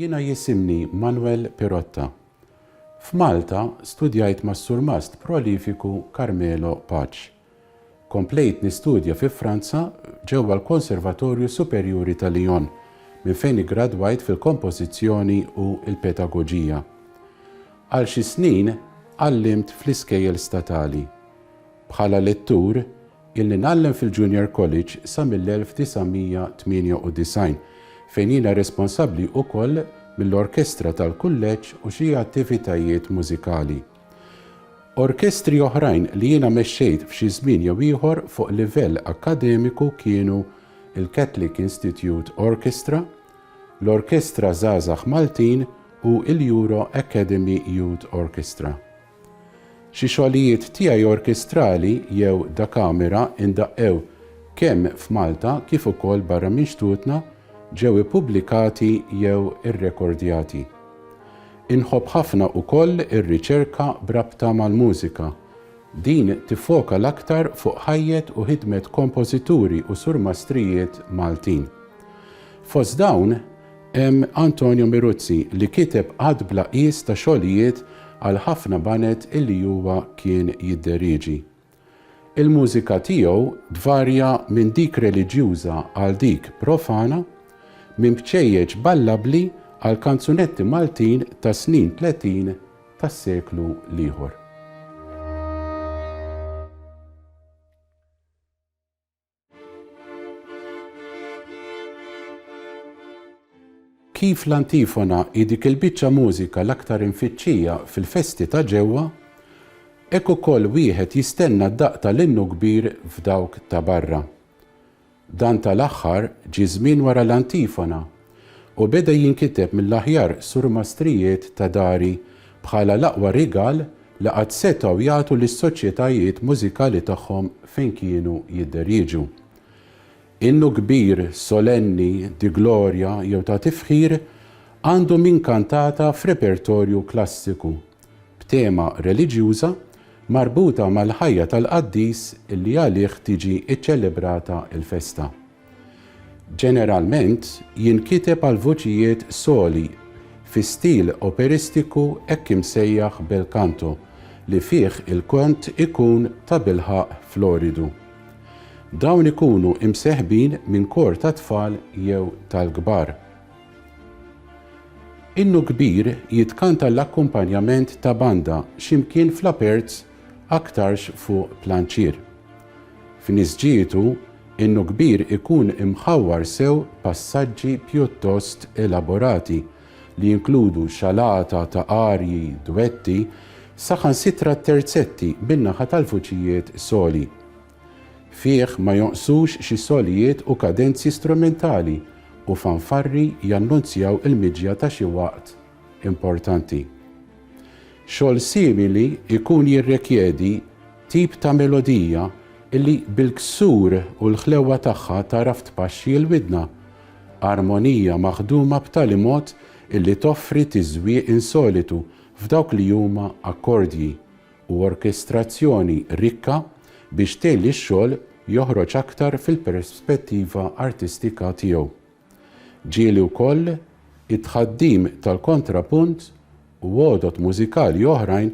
Jiena jisimni Manwel Pirotta. F'Malta studjajt mas-surmast prolifiku Carmelo Paċ. Komplejt nistudja fi Franza ġewwa l-Konservatorju Superjuri ta' Lyon minn fejn iggradwajt fil-Kompożizzjoni u l-Pedagoġija. Għal xi snin għallimt fl-iskejjel statali. Bħala lettur, ilni ngħallem fil-Junior College sa mill-1998, fejn jiena responsabbli ukoll mill-orkestra tal-kulleġġ u xi attivitajiet mużikali. Orkestri oħrajn li jiena mexxejt f'xi żmien jew ieħor fuq livell akkademiku kienu l-Catholic Institute Orchestra, l-Orkestra Żgħażagħ Maltin u l-Euro Academy Youth Orchestra. Xi xogħlijiet tiegħi orkestrali jew da kamera indaqqew kemm f'Malta kif ukoll barra minn xtutna ġew ippubblikati jew irrekordjati. Inħobb ħafna ukoll ir-riċerka b'rabta mal-mużika. Din tiffoka l-aktar fuq ħajjet u ħidmet kompożituri u surmastrijiet Maltin. Fost dawn hemm Antonio Miruzzi li kiteb għadd bla qies ta' xogħlijiet għal ħafna baned illi huwa kien jidderieġi. Il-mużika tiegħu tvarja minn dik reliġjuża għal dik profana, minn bċejjeċ ballabbli għal kanzunetti Maltin tas-snin tletin tas-seklu l-ieħor. Kif l-antifona hi dik il-biċċa mużika l-aktar imfittxija fil-festi ta' ġewwa, hekk ukoll wieħed jistenna d-daqq tal-innu kbir f'dawk ta' barra. Dan tal-aħħar ġie żmien wara l-antifona u beda jinkiteb mill-aħjar surmastrijiet ta' dari bħala l-aqwa rigal li qatt setgħu jagħtu lis-soċjetajiet mużikali tagħhom fejn kienu jidderieġu. Innu kbir, solenni, di glorja jew ta' tifħir għandu minn kantata f'repertorju klassiku, b'tema reliġjuża marbuta mal-ħajja tal-qaddis li għalih tiġi ċċelebrata l-festa. Ġeneralment jinkiteb għal voċijiet soli fi stil operistiku hekk imsejjaħ bel canto li fih il-kant ikun tabilħaqq floridu. Dawn ikunu imseħbin minn kor tat-tfal jew tal-kbar. Innu kbir jitkanta l-akkumpanjament ta' banda xi mkien fl-aperts aktarx fuq planċier. F'nisġietu, innu kbir ikun imħawwar sew b'passaġġi pjuttost elaborati, li jinkludu xalata ta' arji, duetti, saħansitra terzetti bin-naħa tal-vuċijiet soli. Fih ma jonqsux xi solijiet u kadenzi strumentali u fanfarri jannunzjaw il-miġja ta' xi waqt importanti. Xogħol simili jkun jirrekjedi tip ta' melodija li bil-ksur u l-ħlewwa tagħha tagħraf tpaxxi l-widna. Armonija maħduma b'tali mod li toffri tiżwieq insolitu f'dawk li huma akkordji, u orkestrazzjoni rikka biex tgħin lix-xogħol joħroġ aktar fil-perspettiva artistika tiegħu. Ġieli wkoll it-tħaddim tal-kontrapunt u għodod mużikali oħrajn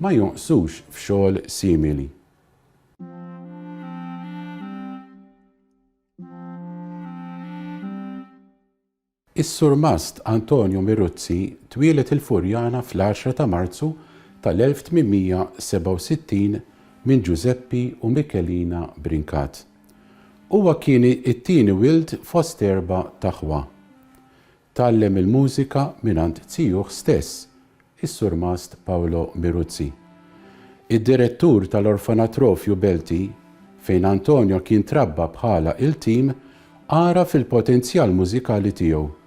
ma jonqsux f'xogħol simili. Is-Surmast Antonio Miruzzi twieled il-Furjana fl-għaxra ta' Marzu tal-1867 minn Ġużeppi u Michelina Brincat. Huwa kien it-tieni wild fost erba' ta' ħwa. Tgħallem il-mużika mingħand zijuh stess, is-Surmast Paolo Miruzzi. Id-direttur tal-Orfanatrofju Belti, fejn Antonio kien trabba bħala iltim, ara fil-potenzjal mużikali tiegħu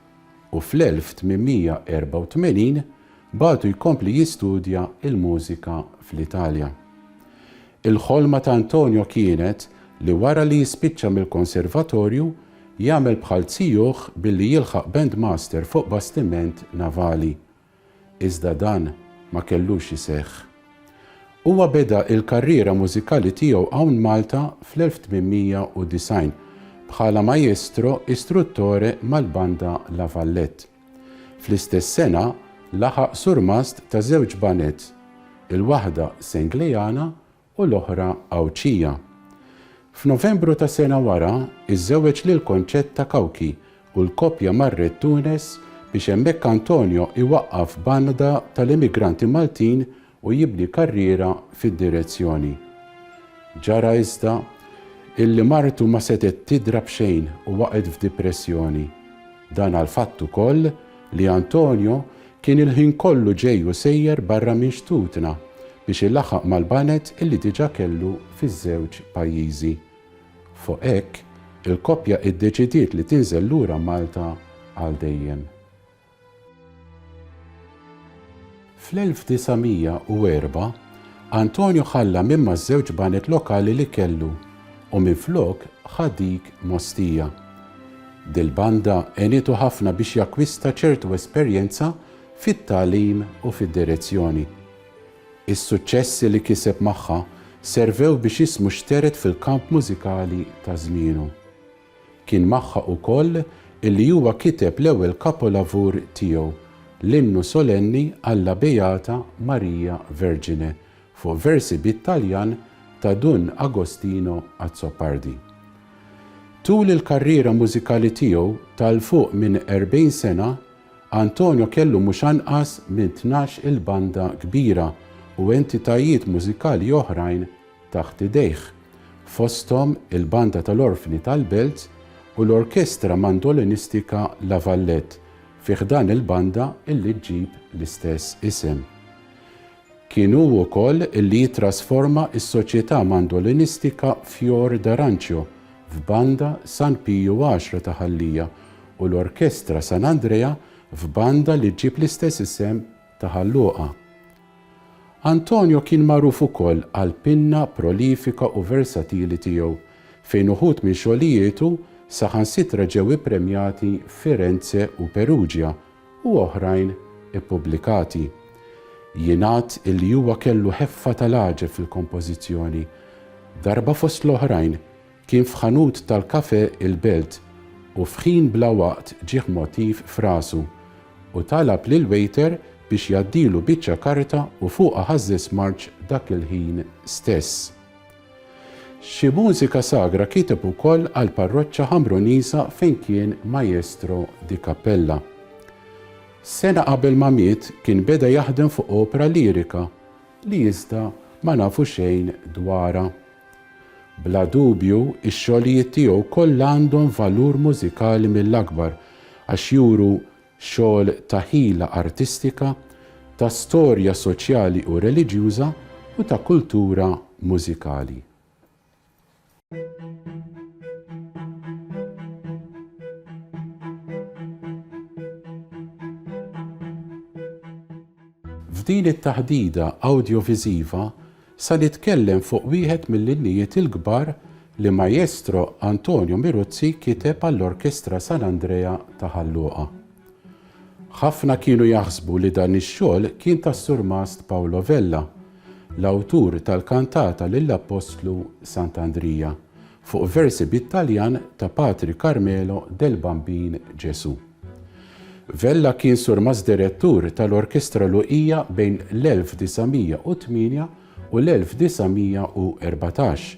u fl-1884 bagħtu jkompli jistudja l-mużika fl-Italja. Il-ħolma ta' Antonio kienet li wara li jispiċċa mill-konservatorju, jagħmel bħal zijuh billi jilħaq bandmaster fuq bastiment navali. Iżda dan ma kellux iseħħ. Huwa beda il-karriera mużikali tiegħu hawn Malta fl-1890 bħala maestro istruttore mal-Banda La Vallette. Fl-istess sena laħaq surmast ta' żewġ baned, il-waħda Senglejana u l-oħra Għawdxija. F'Novembru ta' sena wara iżżewweġ lil Concetta Cauchi u l-koppja marret Tunes biex hemmhekk Antonio iwaqqaf banda tal-immigranti Maltin u jibni karriera fid-direzzjoni. Ġara iżda illi martu ma setgħet tidra b'xejn u waqgħet f'dipressjoni. Dan għall-fatt ukoll li Antonio kien il-ħin kollu ġej u sejjer barra minn xtutna biex ilaħħaq mal-baned illi diġà kellu fiż-żewġ pajjiżi. Fuq hekk, il-koppja iddeċidiet li tinżel lura Malta għal dejjem. Fl-1904, Antonio ħalla minn maż-żewġ banet lokali li kellu u minflok ħa dik m'Ostia. Dil-banda għenitu ħafna biex jakkwista ċertu esperjenza fit-tagħlim u fid-direzzjoni. Is-suċċessi li kiseb magħha servew biex ismu xtered fil-kamp mużikali ta' żmienu. Kien magħha ukoll illi huwa kiteb l-ewwel kapolavur tiegħu, l-Innu Solenni alla Beata Maria Vergine, fuq versi bit-Taljan ta' Dun Agostino Azzopardi. Tul il-karriera mużikali tiegħu ta' 'l fuq minn erbgħin sena, Antonio kellu mhux anqas minn tnax-il banda kbira u entitajiet mużikali oħrajn taħt idejh, fosthom il-Banda tal-Orfni tal-Belt u l-Orkestra Mandolinistika La Vallette fi ħdan il-banda li ġġib l-istess isem. Kien hu wkoll li jittrasforma s-Soċjetà Mandolinistika Fior d'Arancio f'Banda San Piju Għaxra ta' Ħal-Lija u l-Orkestra San Andrea f'banda li ġġib l-istess isem ta' Ħal Luqa. Antonio kien magħruf ukoll għall-pinna prolifika u versatili tiegħu, fejn uħud minn xogħlijietu saħansitra ġew ippremjati f'Firenze u Perugia u oħrajn ippubblikati. Jingħad illi huwa kellu ħeffa tal-għaġeb fil-kompożizzjoni. Darba fost l-oħrajn, Kien f'ħanut tal-kafè il-Belt u f'ħin bla waqt ġieh motiv f'rasu u talab lill-waiter biex jgħaddilu biċċa karta u fuqha ħażżeż smarġ dak il-ħin stess. Xi mużika sagra kiteb ukoll għall-parroċċa Ħamruniża fejn kien maestro di cappella. Sena qabel ma miet kien beda jaħdem fuq opra lirika li iżda ma nafu xejn dwarha. Bla dubju, ix-xogħlijiet tiegħu kollha għandhom valur mużikali mill-akbar għax juru xogħol ta' ħila artistika, ta' storja soċjali u reliġjuża u ta' kultura mużikali. F'din it-taħdida awdjoviżiva Sal jitkellem fuq wieħed mill-innijiet il-kbar li Majestro Antonio Miruzzi kiteb għall-Orkestra San Andrea ta' Ħal Luqa. Ħafna kienu jaħsbu li dan ix-xogħol kien tas-Surmast Paolo Vella, l-awtur tal-kantata lill-Appostlu Sant'Andrija, Fuq versi bit-Taljan ta' Patri Carmelo del Bambin Gesù. Vella kien surmast direttur tal-Orkestra Luqija bejn l-1908 u l-1914,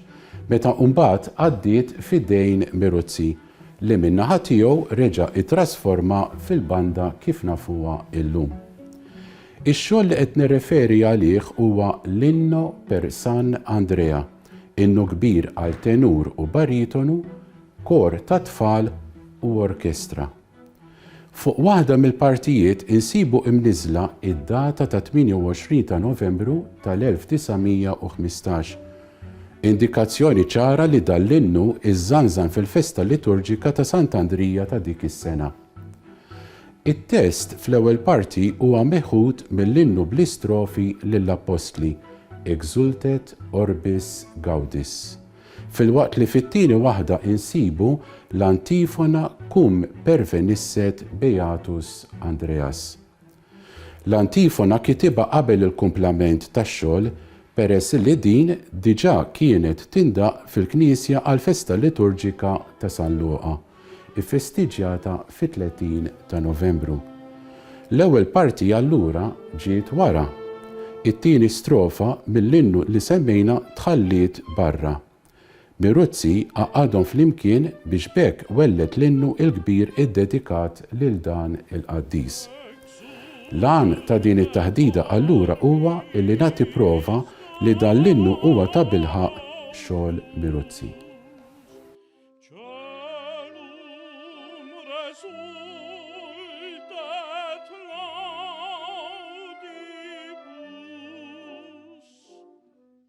meta mbagħad għaddiet f'idejn Miruzzi li min-naħa tiegħu reġa' ittrasformha fil-banda kif nafuha illum. Ix-xogħol li qed nirreferi għalih huwa l-Inno per San Andrea, Innu kbir għal tenur u baritonu, kor ta' tfal u orkestra. Fuq waħda mill-partijiet insibu imniżżla id-data ta' 28 ta' Novembru tal-1915, indikazzjoni ċara li dan l-innu żżanżan fil-festa liturġika ta' Sant'Andrija ta' dik is-sena. It-test fl-ewwel parti huwa meħud mill-innu bl-istrofi lill-Appostli, Exultet orbis gaudis, filwaqt li fit-tieni waħda insibu l-antifona Cum pervenisset beatus Andreas. L-antifona kitibha qabel il-kumplament tax-xogħol peress li din diġà kienet tindaqq fil-knisja għall-festa liturġika ta' San Luqa, iffestiġġjata fit-30 ta' Novembru. L-ewwel parti allura ġiet wara. It-tieni strofa mill-innu li semmejna tħalliet barra. Piruzzi għaqqadhom flimkien biex b'hekk welled l-innu il-kbir iddedikat lil dan il-qaddis. L-għan ta' din it-taħdida allura huwa li nagħti prova li dan l-innu huwa tabilħaqq xogħol Piruzzi.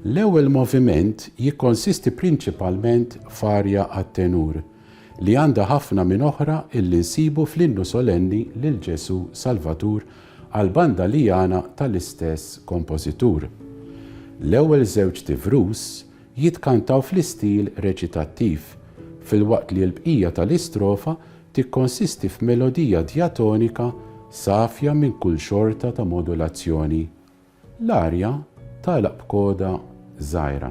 L-ewwel moviment jikkonsisti prinċipalment f'arja għat-tenur, li għandha ħafna minn oħra illi nsibu fl-innu solenni lil Ġesù Salvatur għal banda Liana tal-istess kompożitur. L-ewwel żewġt ivrus jitkantaw fl-istil reċitattiv, filwaqt li l-bqija tal-istrofa tikkonsisti f'melodija djatonika safja minn kull xorta ta' modulazzjoni. L-arja tagħlaq b'koda żgħira.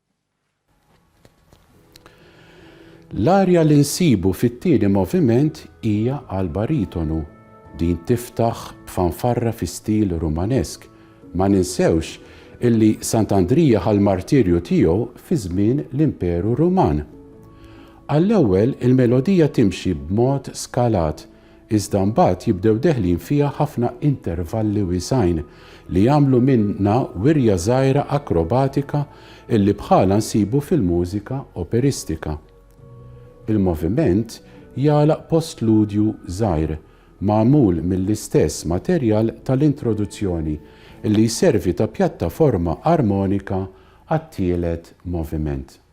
L-arja li nsibu fit-tieni moviment hija għal baritonu. Din tiftaħ b'fanfarra fi stil Rumanesk. Ma ninsewx illi Sant'Andrija ħa l-martirju tiegħu fi żmien l-Imperu Ruman. Għall-ewwel il-melodija timxi b'mod skalat iżda mbagħad jibdew deħlin fiha ħafna intervalli wiesgħin li jagħmlu minnha wirja żgħira akrobatika illi bħalha nsibu fil-mużika operistika. Il-moviment jagħlaq postludju żgħir magħmul mill-istess materjal tal-introduzzjoni illi jservi ta' pjattaforma armonika għat-tielet moviment.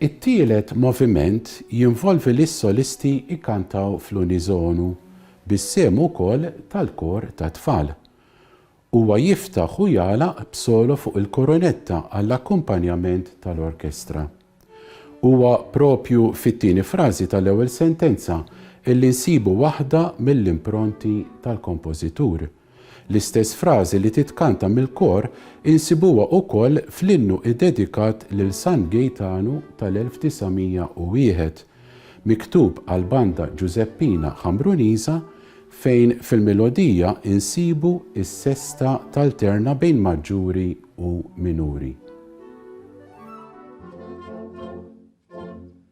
It-tielet moviment jinvolvi lis-solisti jkantaw fl-uniżonu bis-sehem ukoll tal-kor tat-tfal. Huwa jiftaħ u jagħlaq b'solo fuq il-korunetta għall-akkumpanjament tal-orkestra. Huwa proprju fit-tieni frażi tal-ewwel sentenza li nsibu waħda mill-impronti tal-kompożitur. L-istess frażi li titkanta mill-kor insibuha ukoll fl-innu iddedikat lil San Gejtanu tal-1901, miktub għall-banda Ġużeppina Ħamruniża, fejn fil-milodija insibu s-sesta talterna bejn maġġuri u minuri.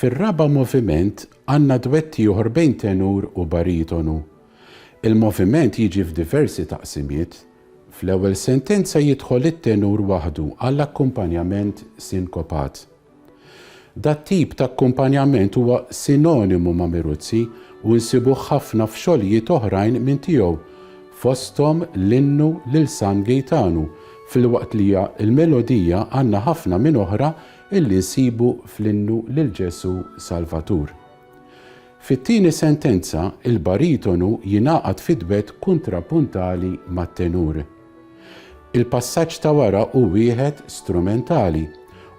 Fir-raba' moviment għandna dwett ieħor bejn tenur u baritonu. Il-moviment jiġi f'diversi taqsimiet. Fl-ewwel sentenza jidħol it-tenur waħdu għall-akkumpanjament sinkopat. Dat-tip ta' akkumpanjament huwa sinonimu ma' Miruzzi u nsibuh ħafna f'xogħlijiet oħrajn minn tiegħu, fosthom l-innu lil San Gejtanu, filwaqt li l-melodija għandna ħafna minn oħra illi nsibu fl-innu lil Ġesù Salvatur. Fit-tieni sentenza, il-baritonu jingħaqad fid-dwett kuntrapuntali mat-tenur. Il-passaġġ ta' wara hu wieħed strumentali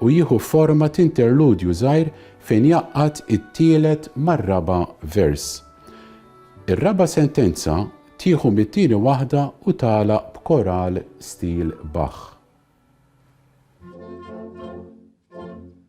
u jieħu forma t'interludju żgħir fejn jgħaqqad it-tielet mar-raba' vers. Ir-raba' sentenza tieħu mit-tieni waħda u tagħlaq b'koral stil Bach.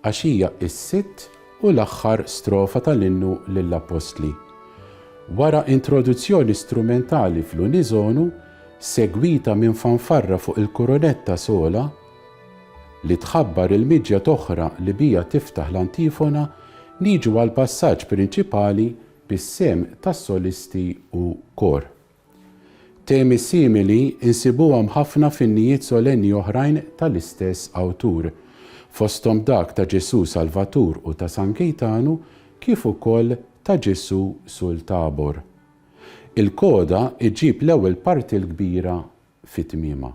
għax hija s-sitt u l-aħħar strofa tal-Innu lill-Appostli. Wara introduzzjoni strumentali fl-uniżonu, segwita minn fanfarra fuq il-kurunetta sola, li tħabbar il-miġja t'oħra li biha tiftaħ l-antifona, niġu għall-passaġġ prinċipali bis-sehem tas-solisti u kor. Temi simili nsibuhom ħafna f'innijiet solenni oħrajn tal-istess awtur, fosthom dak ta' Ġesù Salvatur u ta' San Kejtanu kif ukoll ta' Ġesù sul Tabor. Il-koda ġġib l-ewwel parti l-kbira fi tmiemha.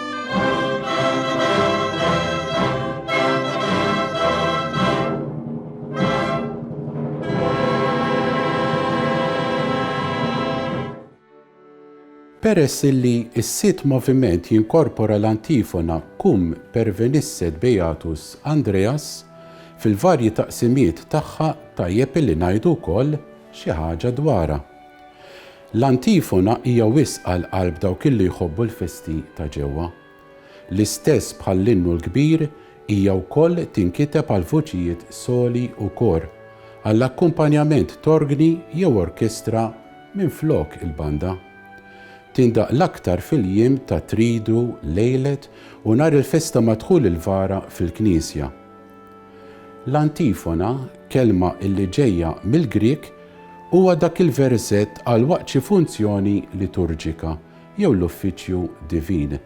Peress illi s-sitt moviment jinkorpora l-antifona Cum pervenisset Beatus Andreas, fil-varji taqsimiet tagħha tajjeb illi ngħidu wkoll xi ħaġa dwarha. L-antifona hija wisq għal qalb dawk illi jħobbu l-festi ta' ġewwa. L-istess bħall-innu l-kbir, hija wkoll tinkiteb għal vuċijiet soli u kor, għall-akkumpanjament t'orgni jew orkestra minflok il-banda. Tindaqq l-aktar fil-jiem ta' tridu, lejlet u nhar il-festa madħul il-vara fil-knisja. L-antifona, kelma li ġejja mill-Grieg, huwa dak il-versett għal waqt xi funzjoni liturġika jew l-uffiċċju divin,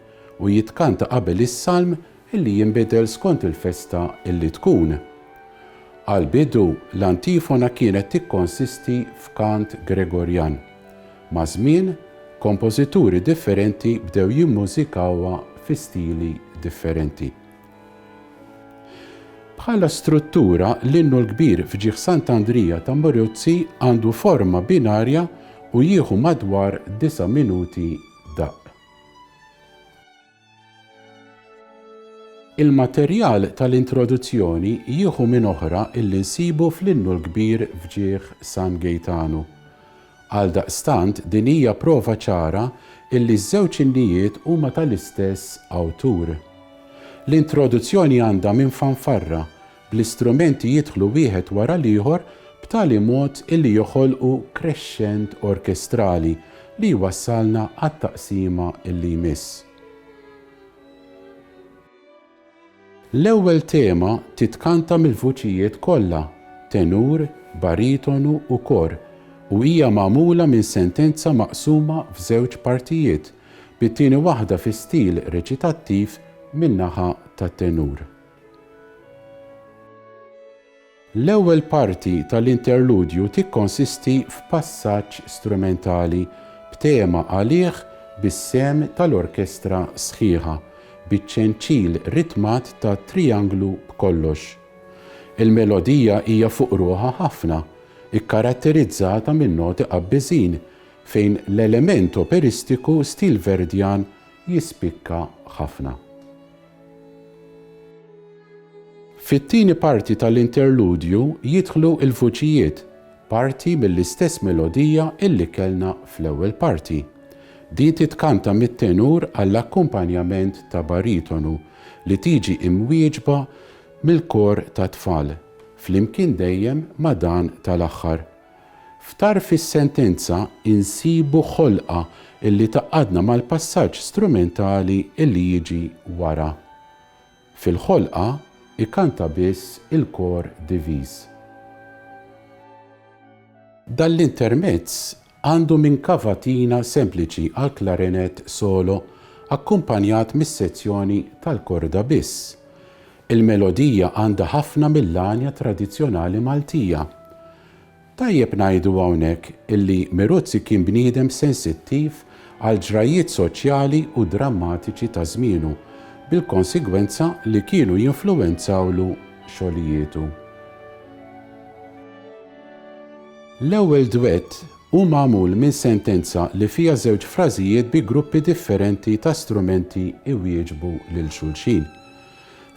u jitkanta qabel is-salm li jinbidel skont il-festa li tkun. Għall-bidu, l-antifona kienet tikkonsisti f'kant Gregorjan. Maż-żmien, kompożituri differenti bdew jimmużikawha fi stili differenti. Bħala struttura, l-Innu l-Kbir f'ġieħ Sant'Andrija ta' Murruzzi għandu forma binarja u jieħu madwar disa' minuti daqq. Il-materjal tal-introduzzjoni jieħu minn oħra illi nsibu fl-Innu l-Kbir f'ġieħ San Gejtanu. Għaldaqstant, din hija prova ċara illi ż-żewġ innijiet huma tal-istess awtur. L-introduzzjoni għandha minn fanfarra, bl-istrumenti jidħlu wieħed wara l-ieħor b'tali mod illi joħolqu crescent orkestrali li jwassalna għat-taqsima illi jmiss. L-ewwel tema titkanta mill-vuċijiet kollha, tenur, baritonu u kor, u hija magħmula minn sentenza maqsuma f'żewġ partijiet, bit-tieni waħda fi stil reċitattiv min-naħa tat-tenur. L-ewwel parti tal-interludju tikkonsisti f'passaġġ strumentali b'tema għalih bis-sehem tal-orkestra sħiħa, biċ-ċenċil ritmat ta' trianglu b'kollox. Il-melodija hija fuq ruħha ħafna, ikkaratterizzata minn noti qabbiżin fejn l-element operistiku stil Verdian jispikka ħafna. Fit-tieni parti tal-interludju jidħlu l-vuċijiet, parti mill-istess melodija illi kellna fl-ewwel parti. Din titkanta mit-tenur għall-akkumpanjament ta' baritonu li tiġi imwieġba mill-kor tat-tfal, flimkien dejjem ma' dan tal-aħħar. F'tarf is-sentenza insibu ħolqa li tgħaqqadna mal-passaġġ strumentali li jiġi wara. Fil-ħolqa jkanta biss il-kor diviż. Dan l-intermezz għandu minn kavatina sempliċi għall-klarinett solo akkumpanjat mis-sezzjoni tal-korda biss. Il-melodija għandha ħafna mill-għanja tradizzjonali Maltija, Tajjeb ngħidu hawnhekk illi Miruzzi kien bniedem sensittiv għall-ġrajjiet soċjali u drammatiċi ta' żmienu, bil-konsegwenza li kienu jinfluwenzawlu xogħlijietu. L-ewwel dwett hu magħmul minn sentenza li fiha żewġ frażijiet bi gruppi differenti ta' strumenti jwieġbu lil xulxin.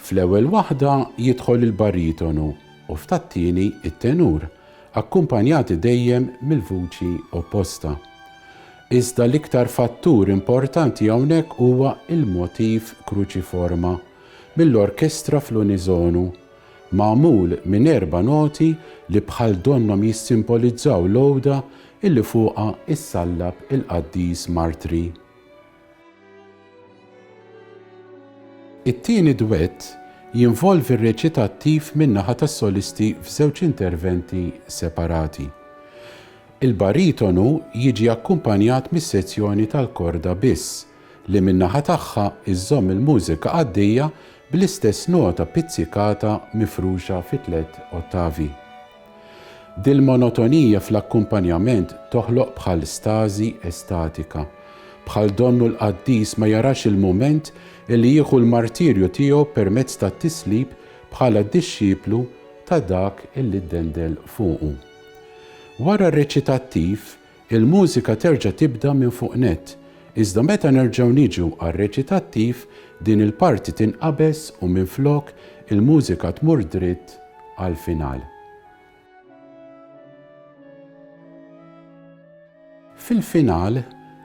Fl-ewwel waħda jidħol il-baritonu, u f'tat-tieni it-tenur, akkumpanjati dejjem mill-vuċi opposta. Iżda l-iktar fattur importanti hawnhekk huwa l-motiv Cruciforma mill-orkestra fl-uniżonu, magħmul minn erba' noti li bħal donnhom jissimbolizzaw l-għoda illi fuqha issallab il-Qaddis Martri. It-tieni dwett jinvolvi reċitattiv min-naħa tas-solisti f'żewġ interventi separati. Il-baritonu jiġi akkumpanjat mis-sezzjoni tal-korda biss, li min-naħa tagħha żżomm il-mużika għaddejja bl-istess nota pizzikata mifruxa fi tliet ottavi. Dil-monotonija fl-akkumpanjament toħloq bħal stażi estatika. Bħal donnu l-qaddis ma jarax il-mument li jieħu l-martirju tiegħu permezz tat-tislib bħala dixxiplu ta' dak li ddendel fuqu. Wara r-reċitattiv, Il-mużika terġa' tibda minn fuq nett, iżda meta nerġgħu niġu għar-reċitattiv, din il-parti tinqabeż u minflok il-mużika tmur dritt għall-final. Fil-final,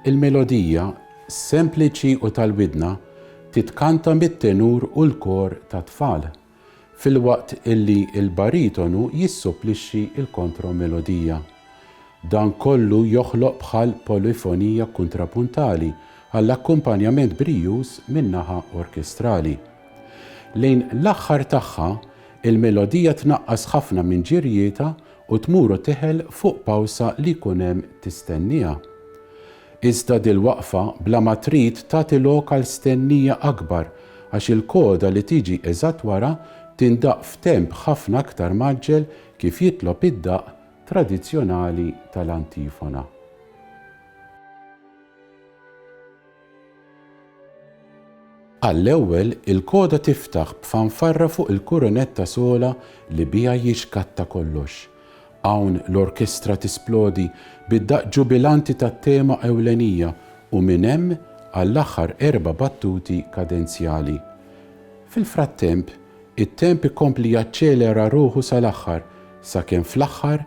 il-melodija, sempliċi u tal-widna, titkanta mit-tenur u l-kor tat-tfal. filwaqt illi l-baritonu jissupplixxi l-kontromelodija. Dan kollu joħloq bħal polifonija kuntrapuntali għall-akkumpanjament brijuż min-naħa orkestrali. Lejn l-aħħar tagħha, il-melodija tnaqqas ħafna minn ġirjietha u tmur u teħel fuq pawsa li jkun hemm tistennieha. Iżda dil-waqfa bla ma trid tagħti lok għal stennija akbar għax il-koda li tiġi eżatt wara tindaqq f'temp ħafna aktar mgħaġġel kif jitlob id-daqq tradizzjonali tal-antifona. Għall-ewwel, il-koda tiftaħ b'fanfarra fuq il-kurunetta sola li biha jixkatta kollox. Hawn l-orkestra tisplodi bid-daqq ġubilanti tat-tema ewlenija u minn hemm għall-aħħar erba' battuti kadenzjali. Fil-frattemp, it-temp ikompli jaċċelera ruħu sal-aħħar, sakemm fl-aħħar